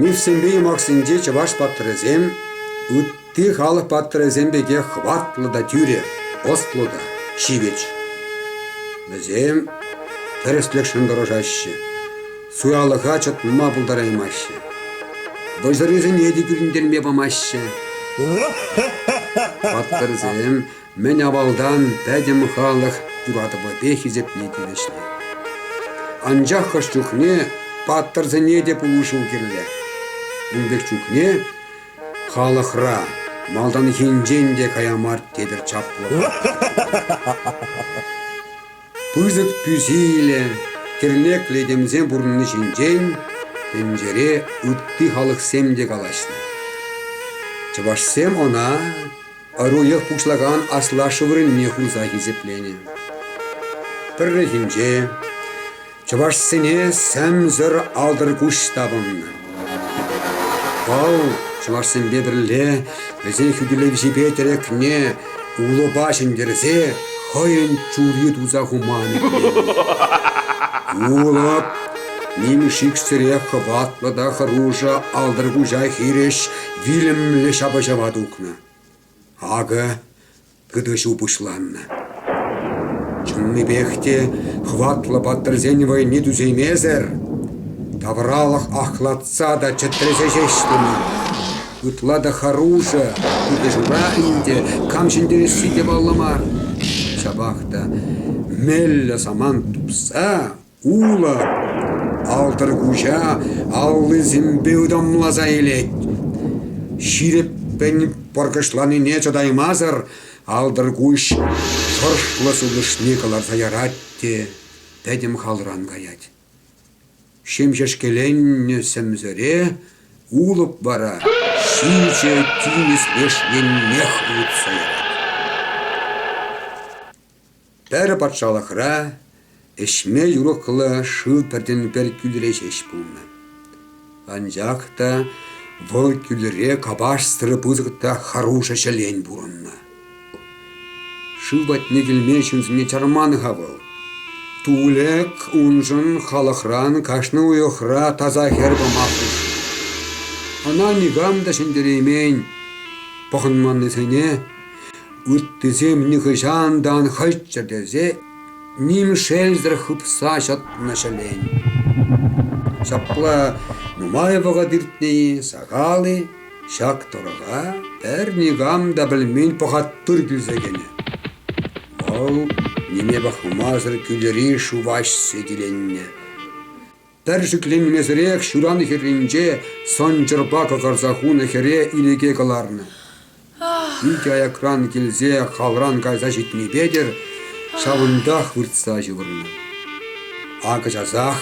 Мифсемпе юмахсенче чӑваш паттӑрӗсем ытти халӑх паттӑрӗсем пекех хӑватлӑ та тӳрӗ, ӑслӑ та ҫивӗч. Вӗсем тӗрӗслӗхшӗн тӑрӑшаҫҫӗ. Суялӑха чӑтма пултараймаҫҫӗ. Вӑйсӑррисене те кӳрентерме памаҫҫӗ. Паттӑрсем мӗн авалтан пӗтӗм халӑх юратӑвӗпе хисепне тивӗҫнӗ. Анчах хӑш чухне паттӑрсене те пулӑшу кирлӗ. Ун пек чухне халӑхра малтанхинчен те кая мар тепӗр чаплӑ. Пысӑк тӳсилӗ, тӗрмеклӗ этемсем пурӑнни ҫинчен тӗнчере ытти халӑхсем те калаҫнӑ. Чӑвашсем ӑна ӑруйӑх пуҫлакан аслашшӗ вырӑнне хурса хисепленӗ. Пӗррехинче Чӑвашсене сӗмсӗр алтӑркуҫ тапӑннӑ. Вӑл чӑвашсемпе пӗрле вӗсен хӳтӗлевҫипе тӗрекне улӑпа ҫӗнтерсе хӑйӗн чури туса хуман иккен. Улӑп нимӗҫ иксӗрех хӑватлӑ та хӑрушӑ алтӑркуҫа хирӗҫ вилӗмлӗ ҫапӑҫӑва тухнӑ. Акӑ Кӗтӗҫу пуҫланнӑ. Чӑннипех те хӑватлӑ паттӑрсен вӑйне тӳсеймесӗр тавралӑх ахлатса та чӗтресе ҫеҫ тӑнӑ. Ытла та хӑрушӑ кӗтӗҫура ӗнтӗ, кам ҫӗнтересси те паллӑ мар. Ҫапах та меллӗ самант тупса Улӑп алтӑркуҫа аллисемпе ытамласа илет. Ҫирӗппӗн пӑркӑшланине чӑтаймасӑр алтӑркуҫ шӑршлӑ сутӑшне кӑларса ярать те пӗтӗм халран каять. Ҫемҫешкеленнӗ сӗмсӗре улӑп вара ҫичӗ тинӗс леш еннех ывӑтса ярать. Пӗр патшалӑхра ӗҫме юрӑхлӑ шыв пӗртен-пӗр кӳлӗре ҫеҫ пулнӑ. Анчах та вӑл кӳлӗре капашсӑр пысӑк та хӑрушӑ ҫӗлен пурӑннӑ. Шыв патне килме ҫынсене чарман-ха вӑл. Тулӗк уншӑн халӑхран кашни уйӑхра таса хӗр пама хушнӑ. Ӑна никам та ҫӗнтереймен. Пӑхӑнманнисене Ыттисем нихӑҫан та ан хӑччӑр тесе ним шелсӗр хыпса ҫӑтнӑ ҫӗлен. Ҫапла нумай вӑхӑт иртнӗ-и, сахал-и, ҫак тӑрӑха пӗр никам та пӗлмен пӑхаттыр кӳлсе кӗнӗ. Вӑл ниме пӑхмасӑр кӳлӗри шуваҫсе киленнӗ. Пӗр шикленмесӗрех ҫуран хӗрринче сӑнчӑрпа кӑкӑрса хунӑ хӗре инӗке кӑларнӑ. Икӗ аякран килсе халран кайса ҫитнӗ ҫавӑнтах выртса ҫывӑрнӑ. Акӑ часах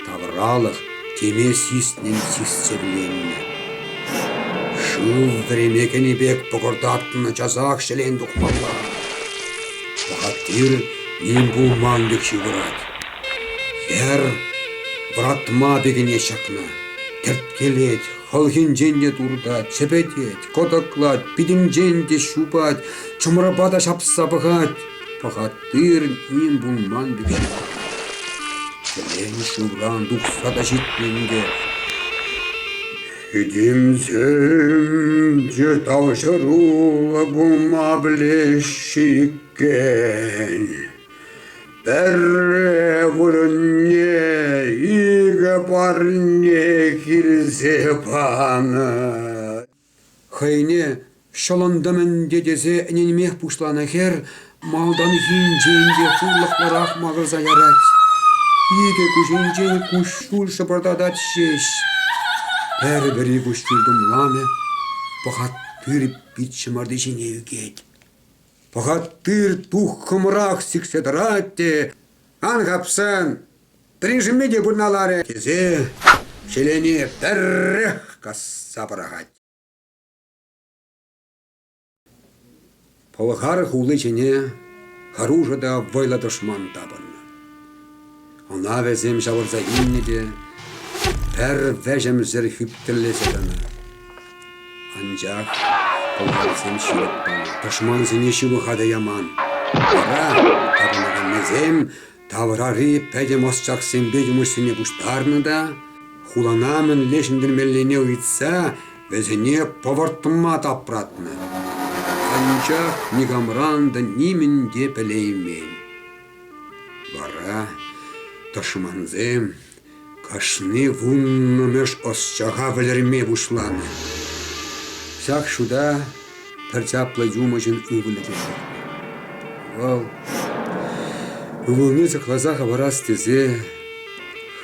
тавралӑх теме сиснӗн систерленнӗ. Шыв вӗреме кӗнӗ пек пӑкӑртатнӑ часах ҫӗлен тухмалла. Бахатир ним пулман пек ҫывӑрать. Хӗр вӑратма пикене ҫакнӑ, терткелет, хӑлхинчен те туртать, чӗпетет, кӑтӑклать, питӗнчен те ҫупать, чӑмӑрпа та ҫапса пӑхать. Пӑхаттырӑн им пулман пӗкене. Хӗрен шывран тухса та ҫитнӗ инкек. Ҫитимсемче тавҫӑруллӑ пулма пӗлеҫҫӗ иккен. Пӗрре вырӑнне икӗ парне килсе панӑ. Хӑйне ҫӑлӑнтӑм ӗнтӗ тесе ӗненмех пуҫланӑ хӗр малтанхинчен те шурлӑхлӑрах макӑрса ярать. Икӗ куҫӗнчен куҫҫуль шӑпӑртатать ҫеҫ. Пӗр-пӗри куҫҫуль тумламӗ, пӑхат тыр пит ҫӑмарти ҫине ӳкет. Пӑхат, тыр туххӑмрах сиксе тӑрать те, «Ан хапсан, пӗриншӗнме те пырналарӗ!» тесе ҫӗлене пӗррех касса пӑрахать. Пӑлхар хули ҫине хӑрушӑ та вӑйлӑ тӑшман тапӑннӑ. Ӑна вӗсем ҫавӑрса илнӗ те пӗр вӗҫӗмсӗр хӳптӗллесе тӑнӑ. Анчах пӑлхарсем ҫывӑх панӑ, тӑшмансене ҫывӑха та яман. Вара тапӑнаканнисем таврари пӗтӗм ӑсчахсемпе юмӑҫсене пуҫтарнӑ та, хулана мӗнле ҫӗнтермеллине ыйтса, вӗсене пӑвӑртма тапратнӑ. Анчах никамран та нимӗн те пӗлеймен. Вара тӑшмансем кашни вуннӑмӗш ӑсчаха вӗлерме пуҫланӑ. Ҫак шута пӗр чаплӑ юмӑҫӑн ывӑлӗ те ҫитнӗ. Вӑл ывӑлне сыхласа хӑварас тесе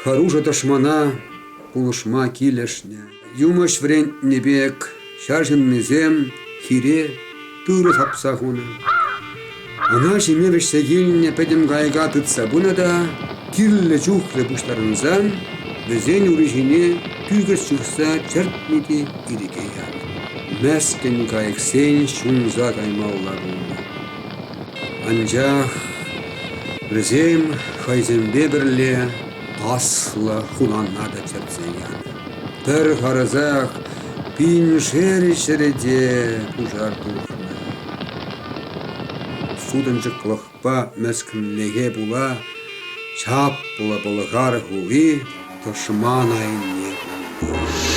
хӑрушӑ тӑшмана пулӑшма килӗшнӗ. Юмӑҫ вӗрентнӗ пек ҫар ҫыннисем хире тырӑ хапса хунӑ. Ӑна ҫиме вӗҫсе килнӗ пӗтӗм кайӑка тытса пынӑ та, кирлӗ чухлӗ пуҫтарӑнсан, вӗсен ури ҫине тӳкӗс чупса чӗртнӗ те ирӗке янӑ. Мӗскӗн кайӑксен ҫунса каймалла пулнӑ. Анчах вӗсем хӑйсемпе пӗрле Аслӑ хулана та чӗртсе янӑ. Пӗр харӑсах пиншер ҫӗрӗте пушар тухнӑ. Сутӑнчӑклӑхпа мӗскӗнлӗхе пула чаплӑ Пӑлхар хули тӑшман айне кулнӑ.